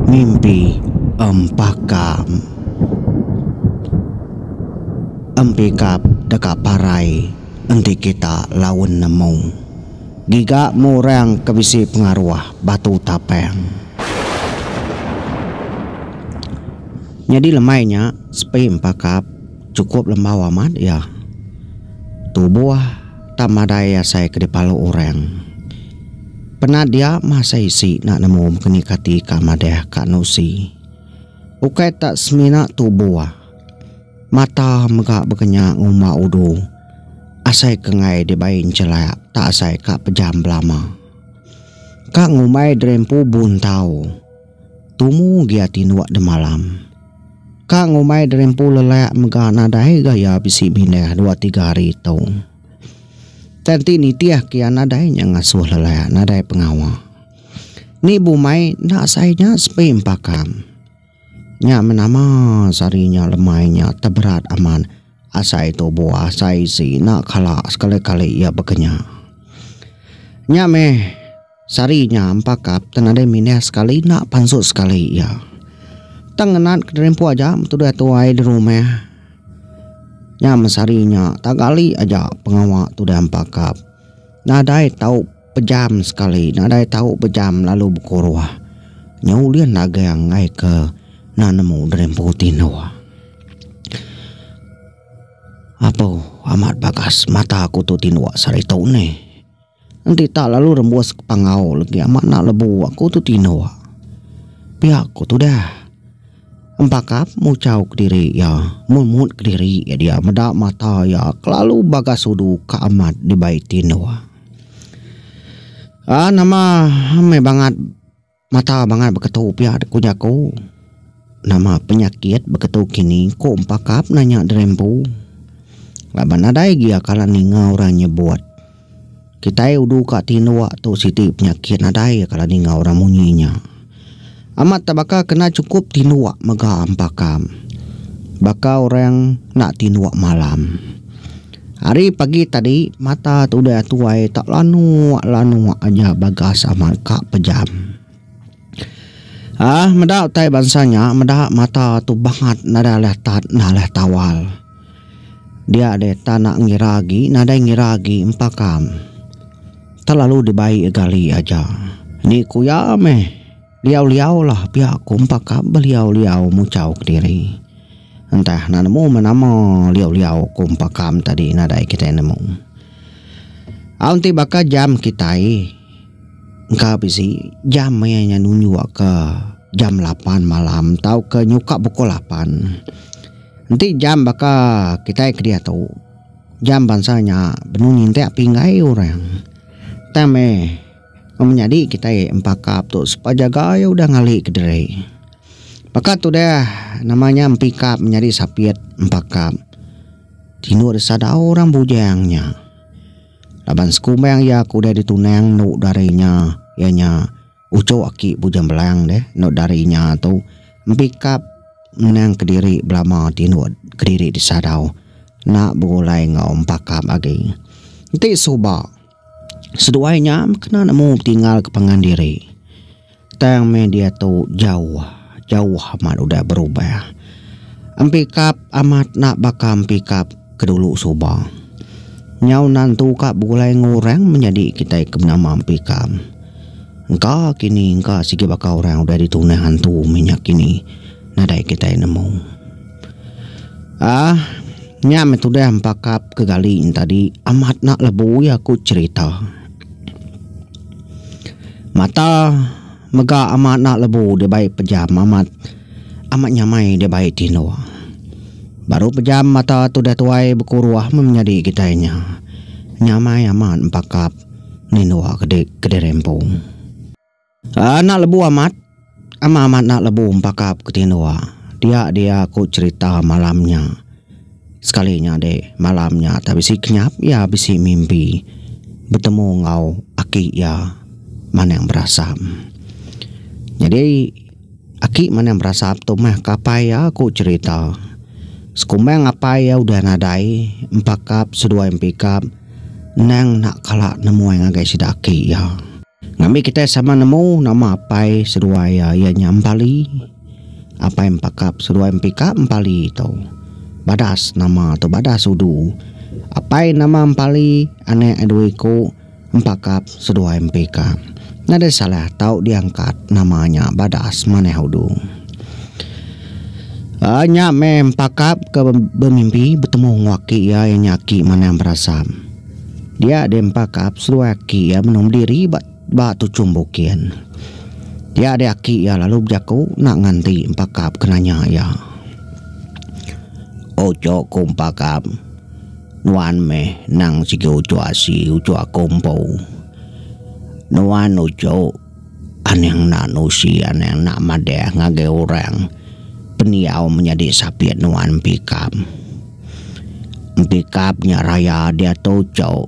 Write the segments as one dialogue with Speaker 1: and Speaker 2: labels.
Speaker 1: Mimpi empakam. Empikap deka parai enti kita laun nemu giga mu orang ke bisi pengaruh batu tapang. Nyadi lemai nya, Sepi empakap, chukup lembau amat iya. Tubuh tang madai asai ke dipalu orang. Penat dia mah asai isi enda nemu mekeni kati ka madah ka nusi. Ukai ta semina tubuh, mata mega bekenya ngumba udu asai ke enggai dibai enchelak ta asai ka pejam belama. Ka ngumbai diri empu buntau. Tumu gi ati nuak demalam. Ka ngumbai derimpu lelak mega nadai gaya bisi mindah dua tiga hari tu. Tang ti nitih kia nadai nya ngasuh lelak nadai pengawa. Ni bumai enda sai nya sepi empakam. Nya menama sehari nya lemai nya teberat amat asai tubu asai isi enda kala sekali kali ia bekenya. Nya meh. Sari nya empakap tang nadai mindah sekali enda pansut sekali iya. Tang ngenat kederimpu aja betudah tuai di rumah. Nyam sari nya taga ali aja pengawa tudah empakap. Nadai tau pejam sekali nadai tau bejam lalu bekuruh. Nya ulih nagang ai ke enda nemu derimpu tinduk. Apu amat bagas mata ku tu tinduk sari tu neh. Enti tak lalu rembus ke pangau legi amat enda lebu aku tu tinduk. Pia ku tudah. Empakap muchau kediri iya memut kediri iya dia meda mata iya kelalu bagas udu ka amat dibai tinduk. Aa nama meh bangat. Mata bangat beketu pia ku jaku. Nama penyakit beketu kini ku empakap nanya diri empu. Laban nadai gia kala ninga orang nyebut. Kitai udu ka tinduk tu siti penyakit nadai kala ninga orang munyi nya. Amat tak baka kena chukup tinduk mega empakap. Baka orang enda tinduk malam. Ari pagi tadi mata tudah tuai tak lanuk lanuk aja bagas amat ka pejam. Ah meda utai bansa nya meda mata tu bangat nadai leh tat nadai leh tawal. Dia deh tak nak ngira agi nadai ngira agi empa kam. Terlalu dibai gali aja. Ni ku iya meh. Liau-liau lah pia aku empakap beliau-liau muchau kediri. Entah nak nemu meh nama liau-liau aku empakam tadi nadai kitai nemu. Au enti baka jam kitai engka bisi jam iya nya nunjukka jam lapan malam tauka nyukak pukul lapan. Enti jam baka kitai kediatu jam bansa nya benung ngintik pinggai orang. Tang meh Nama nyadi kitai empakap tu sepa jagai udah ngali ke diri. Baka tu deh nama nya empikap menyadi sapit empakap. Tinu deh sadau orang bujang nya. Laban sekumbang iya ke udah ditunang enu dari nya iya nya uchu aki Bujang Belang deh enu dari nya tu empikap ngenang kediri belama tinu kediri disadau enda begulai enggau empakap agi. Enti suba. Seduai nya kena nemu betinggalka pangan diri. Tang meh diatu jauh jauh amat udah berubah. Empikap amat enda baka empikap ke dulu suba. Nyau enda nentu ka begulai enggau orang menyadi kitai ke menama empikap. Engka kini engka sigi baka orang udah ditunah antu mih nya kini nadai kitai nemu. Ah, nya meh tudah empakap ke gali nya tadi. Amat enda lebui aku cerita. Mata mega amat enda lebu deh bai pejam amat amat nyamai deh bai ti endo. Baru pejam mata tudah tuai bekuruh meh menyadi kitai nya. Nyamai amat empakap nindok ke diri rempung. Anak lebu amat, ama amat anak lebu empakap ke tinduk. Dia dia aku cerita malam nya. Sekali nyadi malam nya tak bisi kenyap iya bisi mimpi betemu enggau aki iya Manang Berasam. Nyadi aki Manang Berasam tu meh ke apai iya aku cerita. Sekumbang apai iya udah nadai empakap seduai empikap endang enda kala nemuai ngagai sida aki iya. Ngambi kitai sama nemu nama apai seduai iya iya nya Empali. Apai Empakap seduai Empika Empali tu badas nama tu badas udu. Apai nama Empali anak iya dua iku Empakap seduai Empika. Nyadi salah tau diangkat nama nya badas manah udu. Aaa nya meh Empakap ke bemimpi betemu enggau aki iya iya nya aki manah berasam. Dia deh empakap seduai aki iya menoh bediri ba ba tuchum bukin. Dia deh aki iya lalu bejaku enda nganti empakap ke nanya iya. Uchu ku empakap, nuan meh nang sigi uchu asi uchu aku empu. Nuan uchu. Anang enda nusi anang enda madah ngagai orang pendiau menyadi sapit nuan Empikap. Empikap nya raya diatu uchu.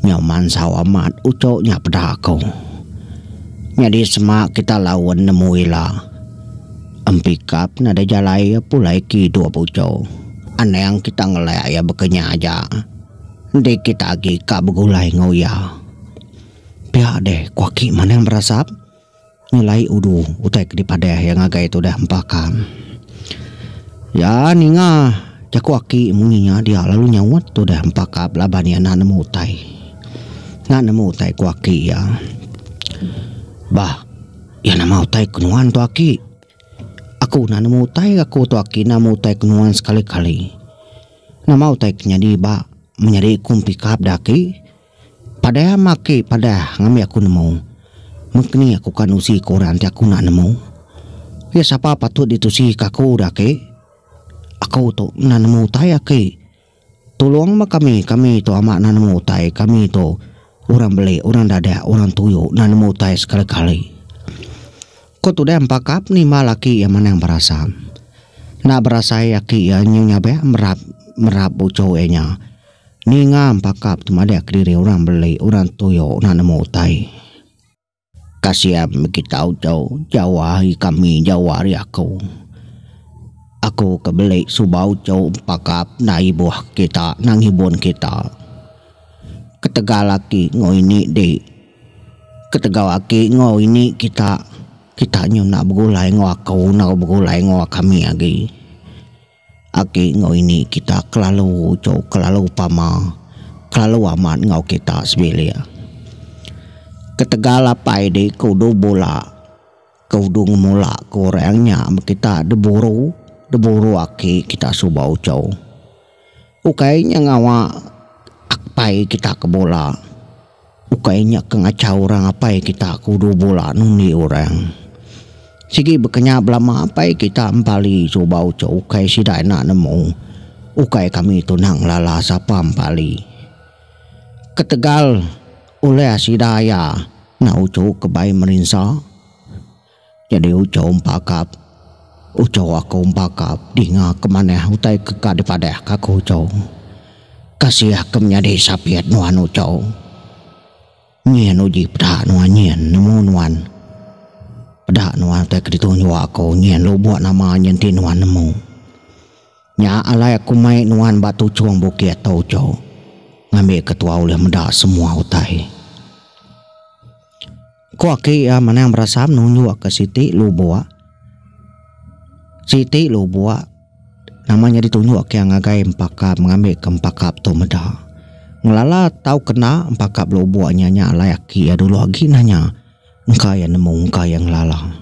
Speaker 1: Nyau mansau amat uchu nya peda aku. Nyadi sema kita laun nemu ila. Empikap nadai jalai iya pulai ke idup uchu. Anang kita ngelak iya baka nya aja. Enti kita agi ka begulai enggau iya. Pia deh ku aki manang berasap nyelai udu utai ke dipadah iya ngagai tu deh empa ka. Iya ninga jaku aki munyi nya dia lalu nyaut tu deh empa ka laban iya enda nemu utai. Enda nemu utai ku aki iya. Bah iya nama utai ku nuan tu aki. Aku enda nemu utai aku tu aki enda nemu utai ku nuan sekali kali. Nama utai ke nyadi ba menyadi ku mpi ka peda aki. Padah ama aki padah ngambi aku nemu. Mengkni aku ka nusi ke orang ti aku enda nemu. Iya sapa patut ditusi ke aku dah aki? Aku tu enda nemu utai aki. Tulong ba kami kami tu ama enda nemu utai kami tu orang beli orang dadak orang tuyo enda nemu utai sekali kali. Ko tudah empakap nimbal aki iya manang berasa. Enda berasai aki iya nyau nyabek merap merap ucho iya nya. Ninga empakap tu madah kediri orang beli orang tuyo nak nemu utai. Kasian migi tau tu jauh ari kami jauh ari aku. Aku ke beli suba uchu empakap enda ibuh kita enda ngibun kita. Ketegal aki enggau ini di ketegal aki enggau ini kita kita nyu enda begulai enggau aku enggau begulai enggau kami agi. Agi enggau ini kita kelalu ucho kelalu pama kelalu amat enggau kita sebilik. Ketegal apai di ke udu bula ke udu ngemula ke orang nya men kita deburu deburu aki kita suba ucho. Ukai nya ngawa apai kita ke bula. Ukai nya ke ngachau orang apai kita ke udu bula nundi orang. Sigi baka nya belama apai kita Empali suba uchu ukai sida enda nemu ukai kami tu nang lala sapa Empali. Ketegal ulih sida iya enda uchu ke bai merinsa. Nyadi uco empakap. Uco aku empakap dinga ke manah utai ke ka dipadah ka aku uco. Kasih aku menyadi sapit nuan uco. Nyin uji peda nuan nyin nemu nuan. Peda nuan utai ke ditunjuk aku nyin lubuk nama nyin ti nuan nemu. Nya alai aku mai nuan ba tuchung bukit tu uco ngambi ke tua ulih meda semua utai. Ku aki iya Manang Berasam nunjuk ke siti lubok. Siti lubok nama nya ditunjuk ke iya ngagai empakap mengambi ke empakap tu meda. Ngelala tau kena empakap lubok nya nya alai aki iya dulu agi nah nya engka iya nemu engka iya ngelala.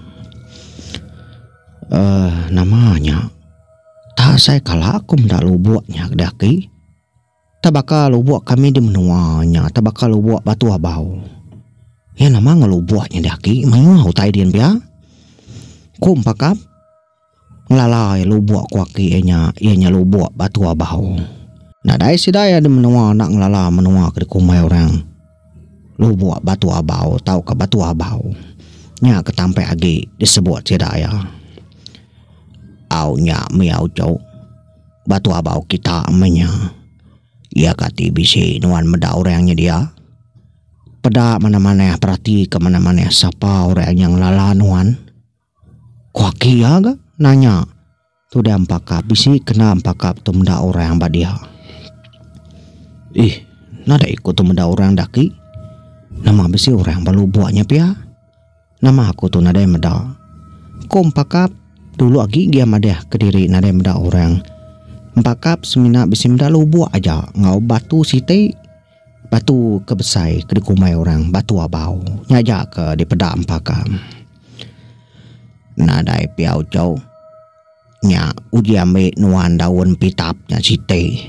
Speaker 1: Uhh nama nya tak asai kala aku meda lubok nya deh aki. Ta baka lubok kami di menua nya ta baka lubok Batu Abau. Iya nama enggau lubok nyadi agi mayuh utai dian pia. Ku Empakap ngelalai lubok ku aki iya nya iya nya lubok Batu Abau. Nadai sida iya di menua enda ngelala menua ke dikumbai orang Lubok Batu Abau tauka Batu Abau. Nya ke tampai agi disebut sida iya. Au nya mih au jok. Ba tua bau kita meh nya. Iya kati bisi nuan meda orang nyedia? Peda manah-manah peratika manah-manah sapa orang nya ngelala nuan. Ku aki iya ga nanya tudah empaka bisi kena empaka tu meda orang ba dia. Ih, nadai ku tu meda orang dah aki. Nama bisi orang ba lubok nya pia. Nama aku tu nadai meda? Ku Empakap dulu agi gia madah kediri nadai meda orang. Empakap semina bisi meda lubuk aja enggau batu siti. Batu ke besai ke dikumbai orang Batu Abau. Nya aja ke dipeda Empakap. Nadai pia ujau. Nya uji ambi nuan daun pitap nya siti.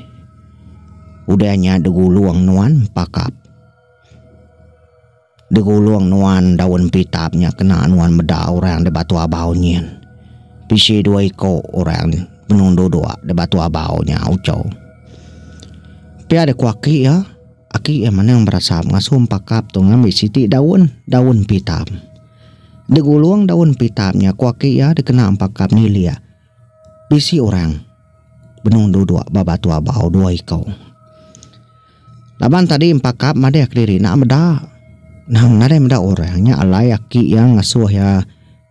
Speaker 1: Udah nya digulung nuan Empakap. Degulung nuan daun pitap nya kena nuan meda orang da batu abau nyin. Bisi dua iko orang benung duduk da batu abau nya uco. Pia da ku aki iya, aki iya manang berasap ngasu empakap tu ngambi siti daun, daun pitap. Degulung daun pitap nya ku aki iya dikena empakap nilik. Bisi orang benung duduk ba batu abau dua iku. Laban tadi empakap madih kediri enda meda. Nang nadai meda orang nya alai aki iya ngasuh iya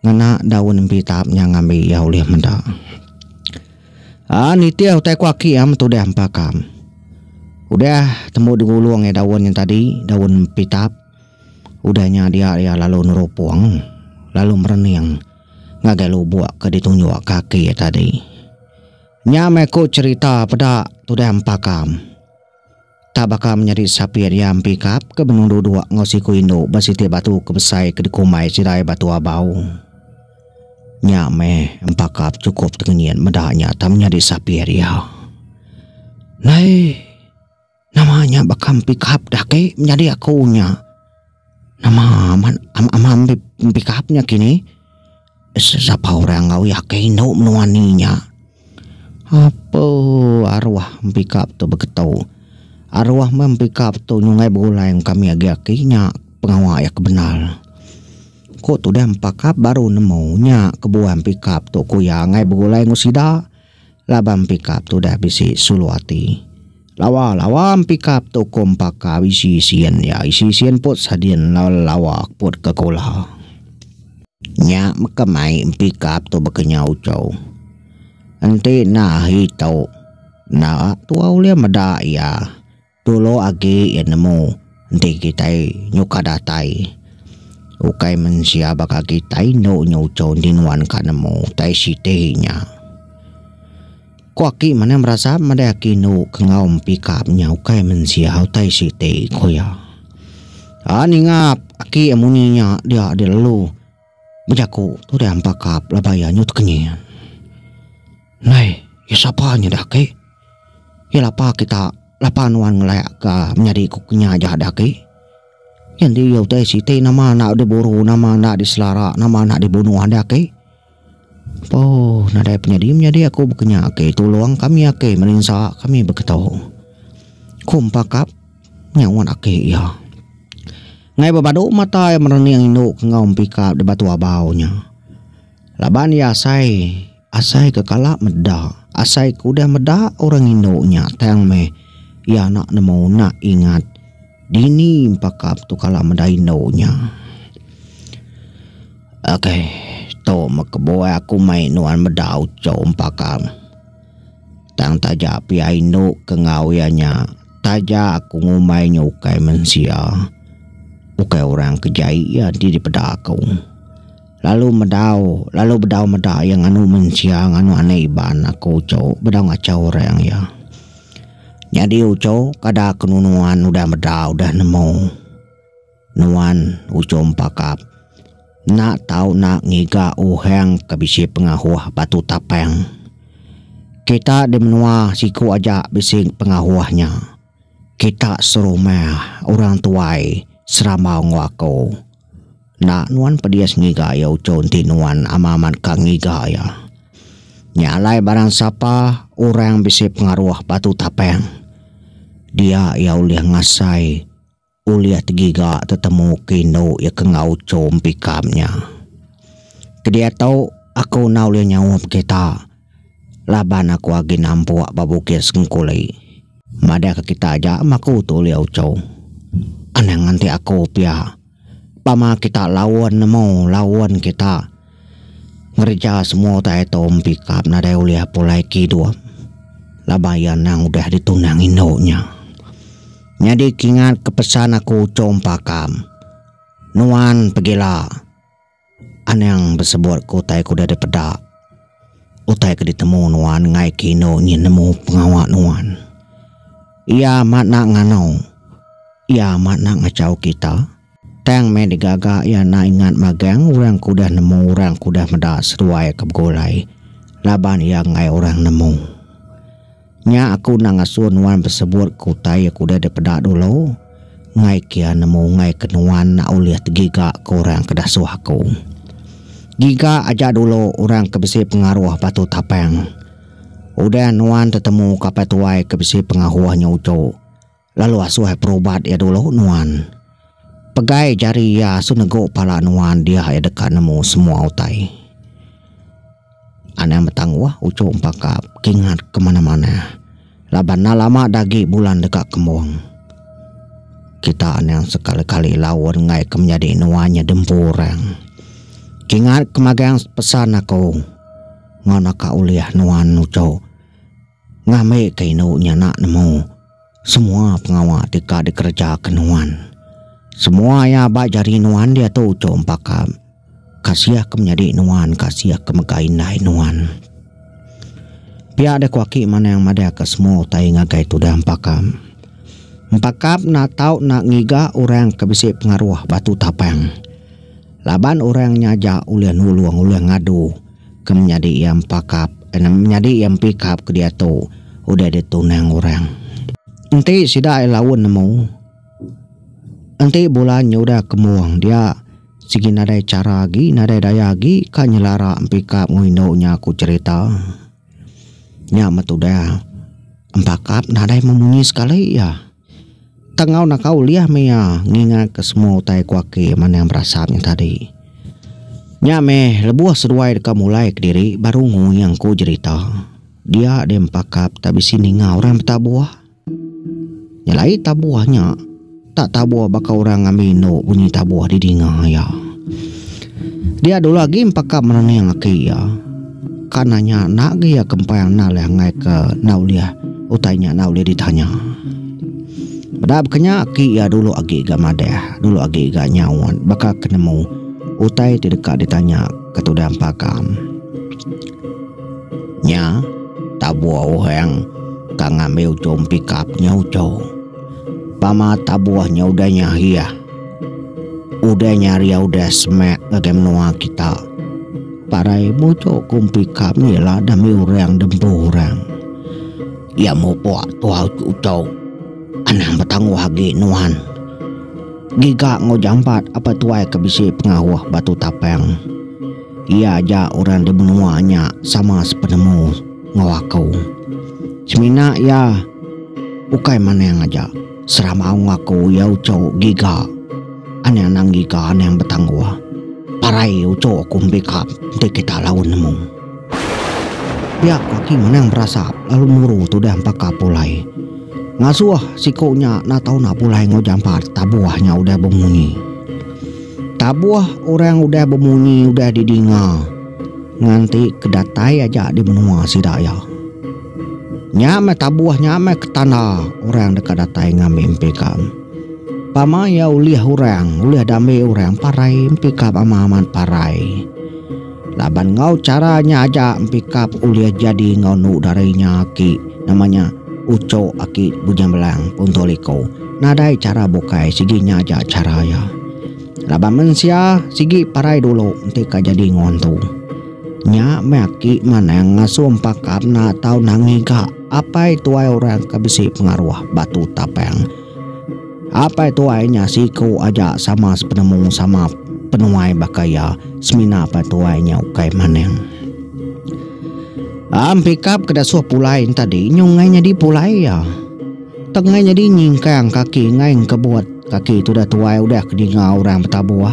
Speaker 1: ngena daun empi tap nya ngambi iya ulih meda. Ah nitih utai ku aki iya metudah empakap. Udah tembu digulung iya daun nya tadi, daun empi tap. Udah nya dia iya lalu nerupung lalu merening. ngagai lubuk ke ditunjuk kaki tadi. Nya meh ku cherita peda tudah empakam. Tak baka menyadi sapit iya empikap ke benung duduk enggau siku indu ba siti batu ke besai ke dikumbai sidai Batu Abau. Nya meh empakap chukup tengenyit meda nya tang menyadi sapit iya. Naih. Nama nya baka pickup dah agi menyadi aku nya. Nama amat amat enda pickup nya kini. Sapa orang enggau iya ke indu menua eni nya. Ape aruh pickup tu beketu. Aruh meh pickup tu nyungkai begulai mega kami agi aki nya pengawa iya ke bendar. Ku tudah pickup baru nemu nya kebuan pickup tu ku iya angai begulai enggau sida. Laban Empikap tu udah bisi sulu ati. Lawa lawa Empikap tu ko Empaka bisi sien iya isi sien put sadin lawa lawa put ke kula. Nya meka mai Empikap tu bekenyau ucau. Enti enda ahi tu. Enda tuau ulih meda iya. Dulu agi iya nemu enti kitai nyuka datai. Ukai mensia baka agi tai indu nya uchu enti nuan ka nemu tai siti nya. Ku aki manah berasap madai aki indu ke enggau mepikap nya ukai mensia utai siti ku iya. Aa ningap aki munyi nya dia dilalu. Bejaku tu deh ampa ka pelaba iya nyut kenyit. Nai, iya sapa nya deh aki? Iya lapa kita, lapa nuan ngelek ka menyadi ku kinya aja deh aki. Iya enti iya utai siti nama enda diburu, nama enda diselara, nama enda dibunuh deh aki. Poo nadai penyadi menyadi aku baka nya aki, tulung kami aki melinsa kami beketo. Ku empa kap. Nyaut aki iya. Ngai bebadu mata iya merening indu ke enggau empika di batu abau nya. Laban iya asai asai ke kala meda, asai ke udah meda orang indu nya tang meh iya anak nemu enda ingat dini empaka tu kala meda indu nya. Okey, tu meh kebuah aku mai nuan meda uchu empaka. Tang taja pia indu ke enggau iya nya, taja aku ngumbai nya ukai mensia, ukai orang ke jai iya enti dipeda aku. Lalu medau, lalu bedau meda iya nganu mensia nganu anak iban aku uchu bedau ngachau orang iya. Nyadi uchu kada ke nunu nuan udah meda udah nemu. Nuan ujung pakap. Enda tau na ngiga uhang ke bisi pengahuh batu tapang. Kita di menua siku aja bisi pengahuh nya. Kita serumah, orang tuai, serambau enggau aku. Enda nuan pedis ngiga iya uchu enti nuan amat-amat ka ngiga iya. Nya alai barang sapa orang bisi pengaruh batu tapang, dia iya ulih ngasai. Ulih tegiga tetemu ke indu iya ke enggau chom pikam nya. Ke diatu aku enda ulih nyaup kita laban aku agi nampuk ba bukit Sengkuli. Madahka kita aja meh aku tu ulih uchu. Anang enti aku pia. Pama kita laun nemu laun kita. Ngereja semua utai Tom Pikap nadai ulih pulai ke idup laban iya endang udah ditunang indu nya. Nyadi kingat ke pesan aku Chong Pakam, nuan pegila anang besebut ke utai ke udah dipeda. Utai ke ditemu nuan ngaike indu nya nemu pengawa nuan. Iya amat enda ngano. Iya amat enda ngachau kita. Tang meh digaga iya enda ingat magang orang ke udah nemu orang ke udah meda seduai ke begulai laban iya enggai orang nemu. Nya aku enda ngasuh nuan besebut ke utai ke udah dipeda dulu enggai kia nemu enggai ke nuan enda ulih tegiga ke orang ke dasuh aku. Giga aja dulu orang ke bisi pengaruh batu tapang. Udah nuan tetemu kapal tuai ke bisi pengahuh nya uju, Lalu asuh iya perubat iya dulu nuan. Pegai jari iya asuh negu pala nuan dia iya deka nemu semua utai. Anang betangguh uchu empakap kingat ke manah-manah laban enda lama dah agi bulan deka kembung. Kita anang sekali-kali laun enggai ke menyadi nuan iya diempu orang. Kingat ke magang pesan aku enggau naka ulih nuan uchu ngambika indu nya enda nemu. Semua pengawa ti ka dikerejaka nuan, semua iya ba jari nuan diatu uchu empaka kasih ke menyadi nuan, kasih ke mega indai nuan. Pia deh ku aki Manang madahka semua utai ngagai tudah empaka. Empaka enda tau enda ngiga orang ke bisi pengaruh batu tapang. Laban orang nyaja ulih nulung, ulih ngadu. Ke menyadi iya empakap, enam menyadi iya empikap ke diatu udah di tunang orang. Enti sida ai laun nemu, enti bulan nyudah ke mung dia sigi nadai chara agi, nadai daya agi ka nyelara empikap enggau indu nya ku cherita. Nya meh tudah empakap nadai memunyi sekali iya. Tang enggau naka ulih meh iya ngingatka semua utai ku aki Manang Berasap nya tadi. Nya meh lebuh seduai deka mulai kediri baru ngui angku jerita. Dia deh empakap tak bisi ninga orang betabuh. Nyelai tabuh nya tak tabuh baka orang ngambi indu bunyi tabuh didinga iya. Dia dulu agi empakap merening aki iya. Ka nanya enda agi iya kempang enda leh enggai ke enda ulih utai nya enda ulih ditanya. Meda baka nya aki iya dulu agi ga madah dulu agi ga nyaut baka ke nemu utai ti deka ditanya ke tudah empakam. Nya tabuh orang ka ngambi ujung pikap nya uchu. Pama tabuh nya udah nya hiah Udah nya hari udah semak ngagai menua kita. Parai mutu kumpi kap ni lah demi orang dempu orang. Ya mupuk tuau tu ucau. Anang betangguh agi nuan. Giga ngau jampat apa tuai ke bisi pengahuh batu tapang. Iya aja orang di menua nya sama sepenemu ngau aku. Semina iya ukai manang aja. Seramau ngaku iya uchu giga. Anang anang giga anang betangguh. Parai uchu aku mebika enti kita lalu nemu. Pia ku aki Manang berasap lalu muru tudah empaka pulai. Ngasuh siku nya enda tau nak pulai enggau jampat tabuh nya udah bemunyi. Tabuh orang udah bemunyi udah didinga nganti ke datai aja di menua sida iya. Nya meh tabuh nya meh ketanda orang deka datai ngambi empi ikam. Pama iya ulih orang, ulih diambi orang parai empi ikam amat amat parai. Laban enggau chara nya aja empi ikam ulih jadi enggau enu dari inya aki nama nya Uchok aki Bujang Belang Punto Liko. Nadai chara bukai sigi nya aja chara iya. Laban mensia sigi parai dulu enti ka jadi enggau antu. Nya meh aki Manang ngasuh Empaka mena tau nangi ga Apai Tuai orang ke bisi pengaruh Batu Tapang. Apai Tuai nya siku aja sama sepenemu sama penuai baka iya semina Apai Tuai nya ukai Manang. Am pikap ke dasuh pulai entadi nyu ngai nyadi pulai iya. Tang ngai nyadi nyingkang kaki ngai engkebut kaki tudah tuai udah ke ninga orang betabuh.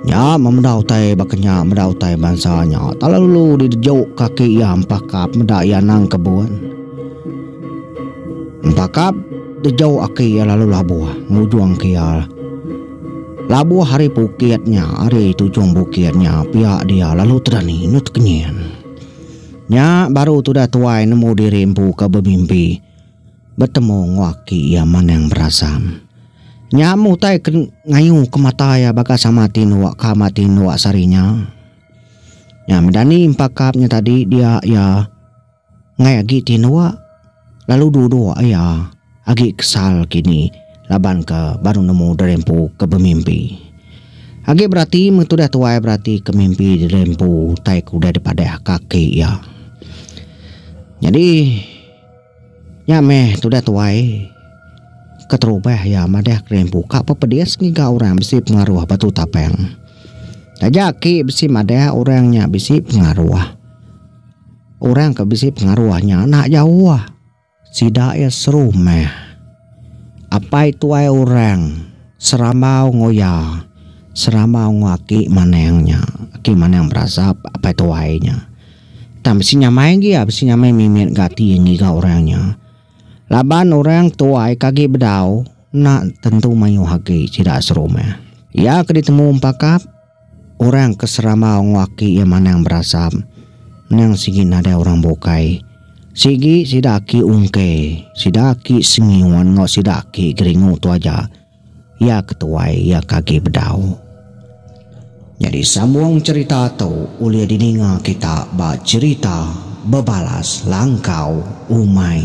Speaker 1: Nya memeda utai baka nya meda utai bansa nya telalu didejuk kaki iya empakap meda iya nang kebun. Empakap dejuk aki iya lalu labuh ngujung ke iya. Labuh ari pukit nya ari tujung bukit nya pia dia lalu terani inu tekenyin. Nya baru tudah tuai nemu diri empu ke bemimpi. betemu enggau aki iya Manang Berasam. Nya meh utai ke ngayuhka mata iya baka sama ati endur ka sama ati endur sehari nya. Nya medani empa kap nya tadi dia iya enggai agi ti endur lalu duduk iya agi kesal kini laban ke baru nemu Derempu ke bemimpi. Agi berati meh tudah tuai berati ke mimpi Derempu utai ke udah dipadah ka aki iya. Nyadi. Nya meh tudah tuai keterubah iya madah kerimpu ka pepedis ngiga orang bisi pengaruh ba tu tapang. Taja aki bisi madah orang nya bisi pengaruh. Orang ke bisi pengaruh nya enda jauh. Sida iya serumah. Apai tuai orang serambau enggau iya serambau enggau aki manang nya. Aki manang berasap apai tuai nya. Tang bisi nyamai agi iya bisi nyamai mimit ga ati ngiga orang nya. Laban orang tuai ke agi bedau enda tentu mayuh agi sida serumah. Iya ke ditemu empakap orang ke serambau enggau aki iya manang berasap endang sigi nadai orang bukai. Sigi sida aki ungke, sida aki sengiun enggau sida aki geringu tu aja. Iya ke tuai iya ke agi bedau. Nyadi sambung cherita tu ulih dininga kita ba cherita Bebalas Langkau Umai.